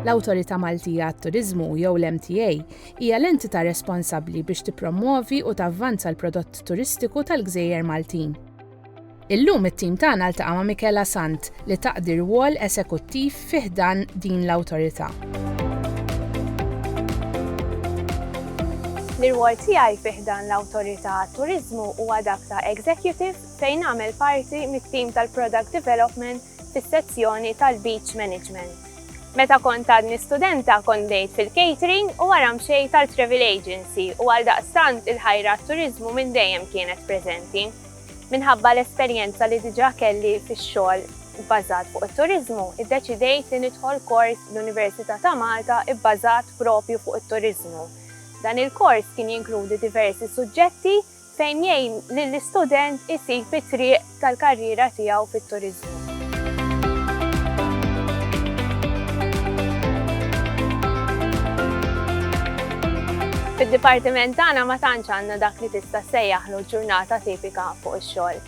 L-Awtorità Maltija għat-Turiżmu jew l-MTA hija l-entità responsabbli biex tippromwovi u tavvanza l-prodott turistiku tal-gżejjer Maltin. Illum it-tim tagħna ltaqa' ma' Michela Sant li taqdi rwol esekuttiv fi ħdan din l-awtorità. L-irwol tiegħi fi ħdan l-Awtorità għat-Turiżmu huwa dak ta' Executive fejn għamel parti mit-tim tal-Product Development fis-sezzjoni tal-Beach Management. Meta kont għadni studenta kont bdejt fil-catering u wara mxejt għal travel agency u għaldaqstant il-ħajra għat-turiżmu minn dejjem kienet preżenti. Minħabba l-esperjenza li diġà kelli fix-xogħol bbażat fuq it-turiżmu, iddeċidejt li nidħol kors l-Università ta' Malta bbażat proprju fuq it-turiżmu. Dan il-kors kien jinkludi diversi suġġetti, fejn jgħin lill-istudent isib it-triq tal-karriera tiegħu fit-turiżmu. Fid-dipartiment tagħna ma tantx għandna dak li tista' ssejjaħlu ġurnata tipika fuq ix-xogħol.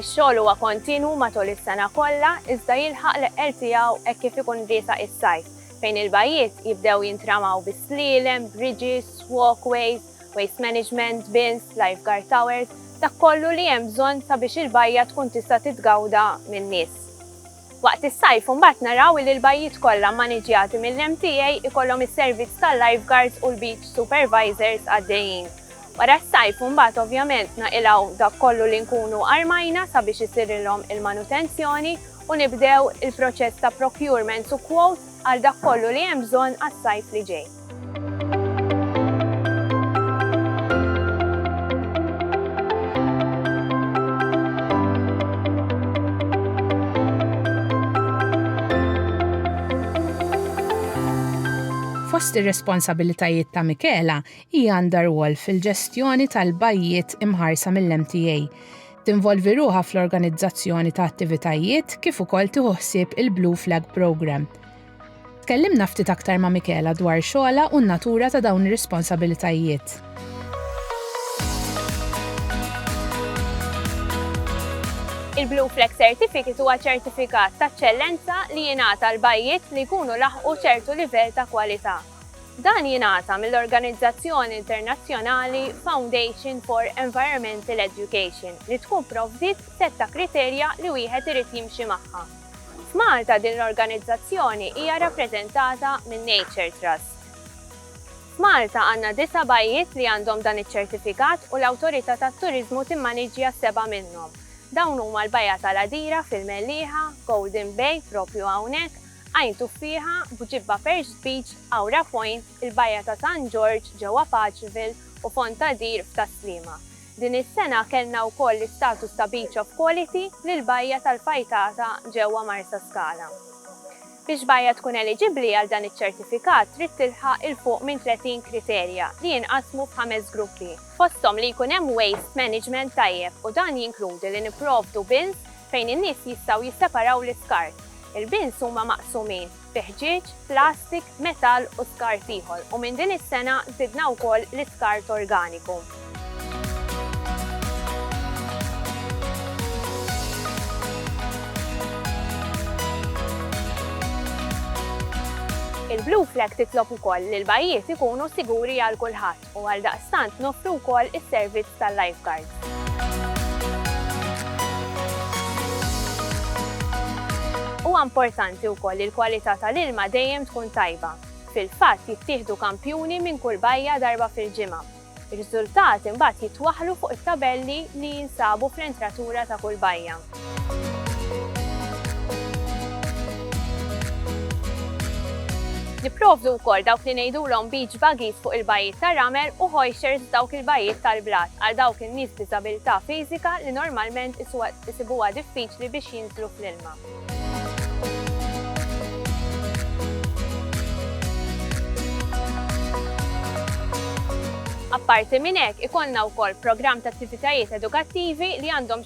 Ix-xogħol huwa kontinwu matul is-sena kollha iżda jilħaq l-eqqel tiegħu hekk kif ikun riesaq is-sajf, fejn il-bajjiet jibdew jintramaw bi slielem, bridges, walkways, waste management, bins, lifeguard towers, dak kollu li hemm bżonn sabiex il-bajja tkun tista' titgawda min-nies. Waqt is-sajf imbagħad naraw li l-bajjiet kollha mmaniġjati mill-MTA jkollhom is-servizz tal-lifeguards u l-beach supervisors għaddejjin. Wara s-sajf imbagħad ovvjament naqilgħu dak kollu li nkunu armajna sabiex isirilhom il-manutenzjoni u nibdew il-proċess ta' procurements u quotes għal dak kollu li hemm bżonn għas-sajf li ġej. Fost ir-responsabilitajiet ta' Michela hija għandha rwol fil-ġestjoni tal-bajjiet imħarsa mill-MTA. Tinvolvi ruħa fl-organizzazzjoni ta' attivitajiet kif ukoll tieħu ħsieb il-Blue Flag Programme. Tkellimna ftit aktar ma' Michela dwar xogħolha u n-natura ta' dawn ir-responsabilitajiet. Il-Blue Flag Certificate huwa ċertifikat ta' ċċellenza li jingħata l-bajjiet li jkunu laħqu ċertu livell ta' kwalità. Dan jingħata mill-organizzazzjoni internazzjonali Foundation for Environmental Education li tkun provdiet sett ta' kriterja li wieħed irid jimxi magħha. F'Malta din l-organizzazzjoni hija rappreżentata minn Nature Trust. F'Malta għandna disa' bajjiet li għandhom dan iċ-ċertifikat u l-Awtorità tat-Turiżmu timmaniġġja seba' minnhom. Dawn huma l-Bajja tal-Għadira fil-Mellieħa, Golden Bay proprju hawnhekk, Għajn Tuffieħa, B'Ġibba Perched Beach, Għawra Point, il-Bajja ta' San Ġorġ ġewwa Paċville u Fond ta' Dir f'Tas-Sliema. Din is-sena kellna wkoll l-istatus ta' Beach of Quality lill-bajja tal-Fajtata ġewwa Marsaskala. Biex bajja tkun eliġibbli għal dan iċ-ċertifikat trid tilħaq 'il fuq minn 30 kriterja li jinqasmu f'ħames gruppi, fosthom li jkun hemm waste management tajjeb u dan jinkludi li nipprovdu bins fejn in-nies jistgħu jisseparaw l-iskart. Il-bins huma maqsumin. bi ħġieġ, plastik, metall u skart ieħor u minn din is-sena żidna wkoll l-iskart organiku. Il-Blue Flag titlob ukoll li l-bajjiet ikunu siguri għal kulħadd. u għaldaqstant noffru wkoll is-servizz tal-lifeguard. Huwa importanti wkoll li l-kwalità tal-ilma dejjem tkun tajba. Fil-fatt jittieħdu kampjuni minn kull bajja darba fil-ġimgħa. Ir-riżultati mbagħad jitwaħħlu fuq it-tabelli li jinsabu fl-entratura ta' kull bajja. Nipprovdu wkoll dawk li ngħidulhom beach buggies fuq il-bajjiet tar-ramel u hoisters f'dawk il-bajjiet tal-blat għal dawk in-nies b'diżabilità fiżika li normalment isibuha diffiċli biex jinżlu fl-ilma. Apparti minn hekk, ikollna wkoll programm ta' attivitajiet edukattivi li għandhom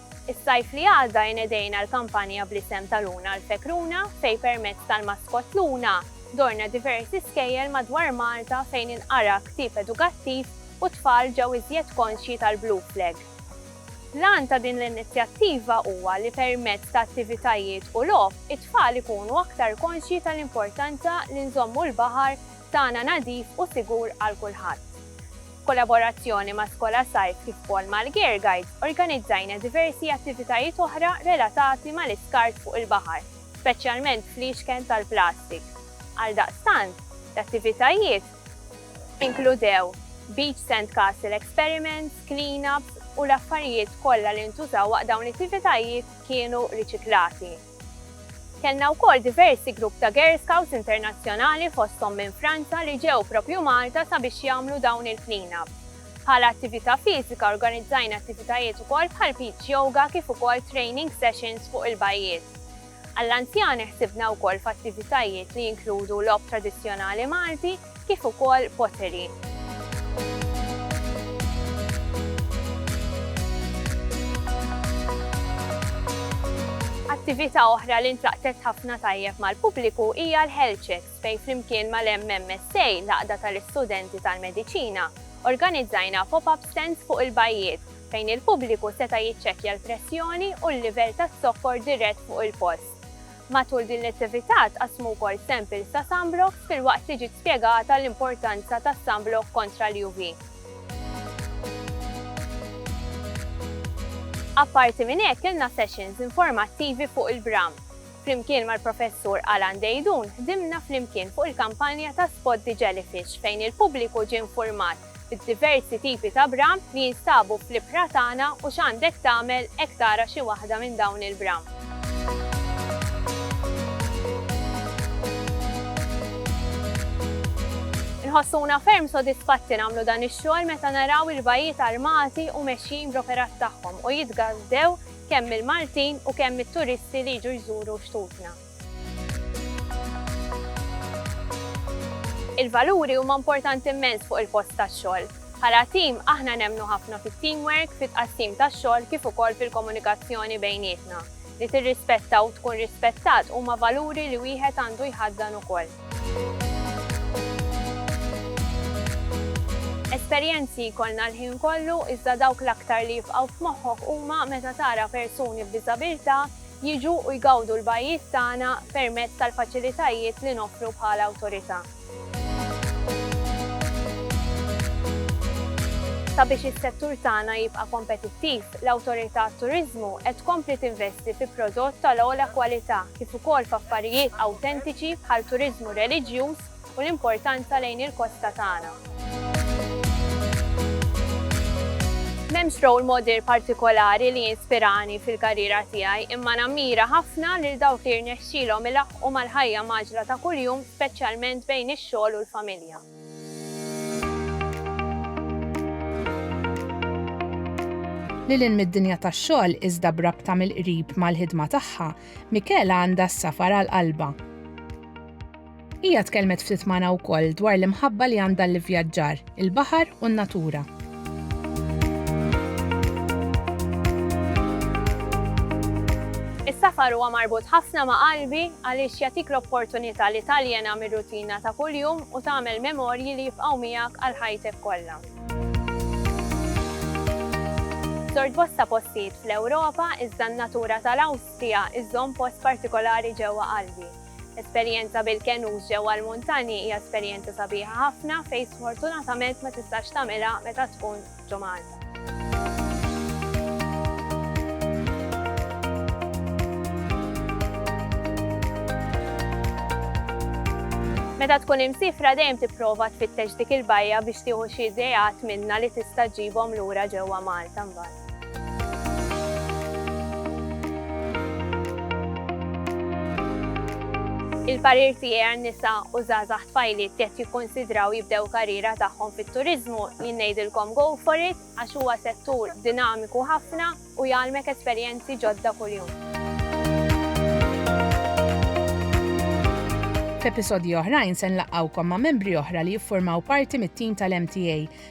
Is-Sajf li għadda inedejna l-kampanja bl-isem ta' Luna għal Fek Runa fejn permezz tal-maskott Luna żorna diversi skejjel madwar Malta fejn inqara ktieb edukattiv u t-tfal ġew iżjed konxji tal-Blue Flag. L-għan ta' din l-inizjattiva huwa li permezz ta' attivitajiet u logħob it-tfal ikunu aktar konxji tal-importanza li nżommu l-baħar tagħna nadif u sigur għal kulħadd. B'kollaborazzjoni ma' Skola Sajf kif ukoll mal-Gear Guide, organizzajna diversi attivitajiet oħra relatati mal-iskart fuq il-baħar, speċjalment fliexken tal-plastik. Għaldaqstant, l-attivitajiet inkludew Beach Sand Castle Experiments, Clean-up u l-affarijiet kollha li ntużaw waqt dawn l-ittivitajiet kienu riċiklati. Kellna wkoll diversi grupp ta' Girl Scouts internazzjonali fosthom minn Franza li ġew proprju Malta sabiex jagħmlu dawn il-clean up. Bħala attività fiżika organizzajna attivitajiet ukoll bħal beach yoga kif ukoll training sessions fuq il-bajjiet. Għall-anzjani ħsibna wkoll f'attivitajiet li jinkludu logħob tradizzjonali Malti, kif ukoll pottery. Attività oħra li ntlaqtet ħafna tajjeb mal-pubbliku hija l-Health Checks fejn flimkien mal-MMSA, l-Għaqda tal-Istudenti tal-Mediċina, organizzajna pop-up stands fuq il-bajjiet fejn il-pubbliku seta' jiċċekkja l-pressjoni u l-livell tas-sokkor dirett fuq il-post. Matul din l-attività tqassmu wkoll samples ta' sunblock filwaqt li ġiet spjegata l-importanza tas-sunblock kontra l-UV. Apparti minn hekk kellna sessions informattivi fuq il-bram. Flimkien mal-Professur Alan Deidun ħdimna flimkien fuq il-kampanja ta' Spot the Jellyfish fejn il-pubbliku ġie nfurmat b'diversi tipi ta' bram li jinstabu fl-ibħra tagħna u x'għandek tagħmel hekk tara xi waħda minn dawn il-bram. Inħossuna ferm sodisfatti nagħmlu dan ix-xogħol meta naraw il-bajjiet armati u mexjin bl-operat tagħhom u jitgażżew kemm mill-Maltin u kemm mit-turisti li jiġu jżuru xtutna. Il-valuri huma importanti immens fuq il-post tax-xogħol. Bħala tim, aħna nemmnu ħafna fit-teamwork, fit-tqassim tax-xogħol kif ukoll fil-komunikazzjoni bejnietna. Li tirrispetta u tkun rispettat huma valuri li wieħed għandu jħaddan ukoll. Esperjenzi jkollna l-ħin kollu iżda dawk l-aktar li jibqgħu f'moħħok huma meta tara persuni b'diżabilità jiġu u jgawdu l-bajjiet tagħna permezz tal-faċilitajiet li noffru bħala Awtorità. Sabiex is-settur tagħna jibqa' kompetittiv, l-Awtorità għat-Turiżmu qed tkompli tinvesti fi prodott tal-ogħla kwalità kif ukoll f'affarijiet awtentiċi bħal turiżmu reliġjuż, u l-importanza lejn il-kosta tagħna. M'hemmx role model partikolari li jinspirani fil-karriera tiegħi imma nammira ħafna lil dawk li jirnexxilhom ilaħħqu mal-ħajja mgħaġġla ta' kuljum speċjalment bejn ix-xogħol u l-familja. Lil hinn mid-dinja tax-xogħol iżda b'rabta mill-qrib mal-ħidma tagħha, Michela għandha s-safar għal qalbha. Hija tkellmet ftit magħna wkoll dwar l-imħabba li għandha l-ivvjaġġar, il-baħar u n-natura. Is-safar huwa marbut ħafna ma' qalbi għaliex jagħtik l-opportunità li taljena mir-rutina ta' kuljum u tagħmel memorji li jibqgħu miegħek għal ħajtek kollha. Żort bosta postijiet fl-Ewropa iżda n-natura tal-Awstrija iżżomm post partikolari ġewwa qalbi. Esperjenza bil-kenus ġewwa l-muntanji hija esperjenza sabiħa ħafna fejn sfortunatament ma tistax tagħmilha meta tkun ġo Malta. Meta tkun imsifra dejjem tipprova tfittex dik il-bajja biex tieħu xi ideat minnha li tista' ġġibhom lura ġewwa Malta mbagħad. Il-parir tiegħi għan-nisa u żgħażagħ tfajliet li qed jikkunsidraw jibdew karriera tagħhom fit-turiżmu, jien ngħidilkom go for it għax huwa settur dinamiku ħafna u jgħallmek esperjenzi ġodda kuljum. F'episodji oħrajn se nlaqqgħukom ma' membri oħra li jiffurmaw parti mit-tim tal-MTA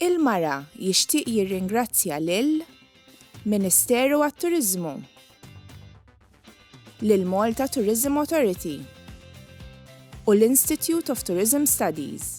Il-Mara jixtieq jirringrazzja lil Ministeru għat-Turiżmu, lil Malta Tourism Authority u l-Institute of Tourism Studies.